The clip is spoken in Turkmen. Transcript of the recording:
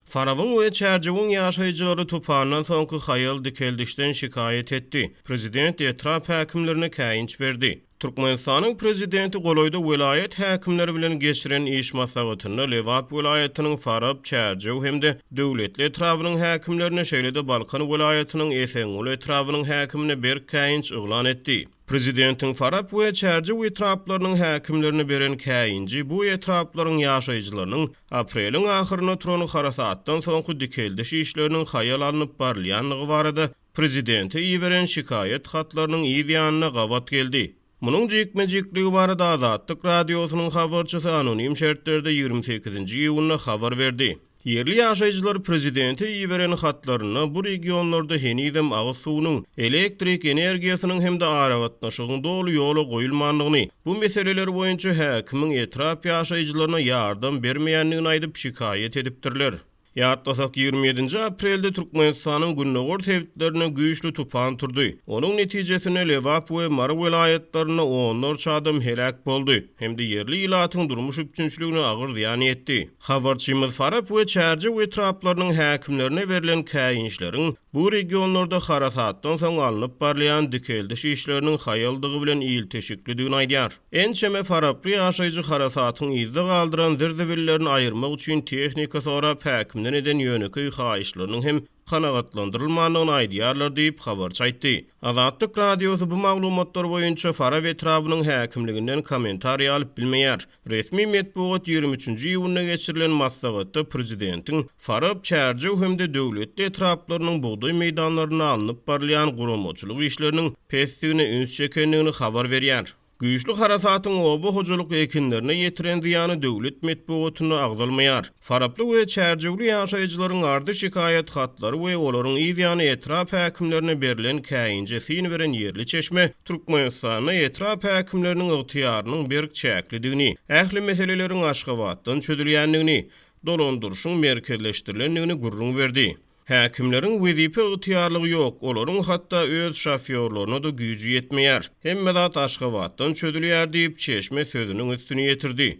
Farabyň we Çärjewiň ýaşaýjylary tupandan soňky haýal dikeldişden şikaýat etdi. Prezident etrap häkimlerine käýinç berdi. Türkmenistanyň Prezidenti golaýda welaýat häkimleri bilen geçiren iş maslahatynda Lebap welaýatynyň Farap, Çärjew hem-de Döwletli etrabynyň häkimlerine, şeýle-de Balkan welaýatynyň Esenguly etrabynyň häkimine berk käýinç yglan etdi. Prezidentiň Farap we Çärjew etraplarynyň häkimlerine beren käýinji bu etraplaryň ýaşaýjylarynyň apreliň ahyryna turan harasatdan soňky dikeldiş işleriniň haýal alnyp barylýandygy barada prezidente iberen şikaýat hatlarynyň yz ýanyna gabat geldi. Munuň jikme-jikligi barada Azatlyk Radiosynyň habarçysy anonim şertlerde ýigrimi sekizinji iýunda habar berdi. Ýerli ýaşaýjylar prezidente iberen hatlarynda bu regionlarda henizem agyz suwunyň, elektrik energiýasynyň hem-de aragatnaşygyň doly ýola goýulmandygyny, bu meseleler boýunça häkimiň etrap ýaşaýjylaryna ýardam bermeýändigini aýdyp şikaýat edipdirler. Ýatlasak, ýigrimi ýedinji aprelde Türkmenistanyň gündogar sebitlerinde güýçli tupan turdy. Onuň netijesinde Lebap we Mary welaýatlarynda onlarça adam heläk boldy hem-de ýerli ilatyň durmuş üpjünçiligine agyr zyýan ýetdi. Habarçymyz Farap we Çärjew etraplarynyň häkimlerine berlen käýinçleriň bu regionlarda harasatdan soň alnyp barylýan dikeldiş işleriniň haýaldygy bilen ilteşiklidigini aýdýar. Ençeme faraply ýaşaýjy harasatyň yzda galdyran zir-zibillerini aýyrmak üçin tehnika sorap häkimden eden ýönekeý haýyşlarynyň hem kanagatlandyrylmandygyny aýdýarlar diýip, habarçy aýtdy. Azatlyk Radiosy bu maglumatlar boýunça Farap etrabynyň häkimliginden kommentariý alyp bilmeýär. Resmi metbugat ýigrimi üçünji iýunda geçirilen maslahatda prezidentiň Farap, Çärjew hem-de Döwletli etraplarynyň bugdaý meýdanlarynda alnyp barylýan guramaçylyk işleriniň pesdigine üns çekendigini habar berýär. Güýçli harasatyň oba hojalyk ekinlerine ýetiren zyýany döwlet metbugatynda agzalmaýar. Faraply we Çärjewli ýaşaýjylaryň arza-şikaýat hatlary we olaryň yzýany etrap häkimlerine berlen käýinje syn beren ýerli çeşme Türkmenistanda etrap häkimleriniň ygtyýarynyň berk çäklidigini, ähli meseleleriň Aşgabatdan çözülýändigini, dolandyryşyň merkezleşdirilendigini gürrüň berdi. Häkimleriň wezipe ygtyýarlygy ýok, olaryň hatda öz şofýorlaryna-da güýji ýetmeýär. Hemme zat Aşgabatdan çözülýär diýip, çeşme sözüniň üstüni ýetirdi.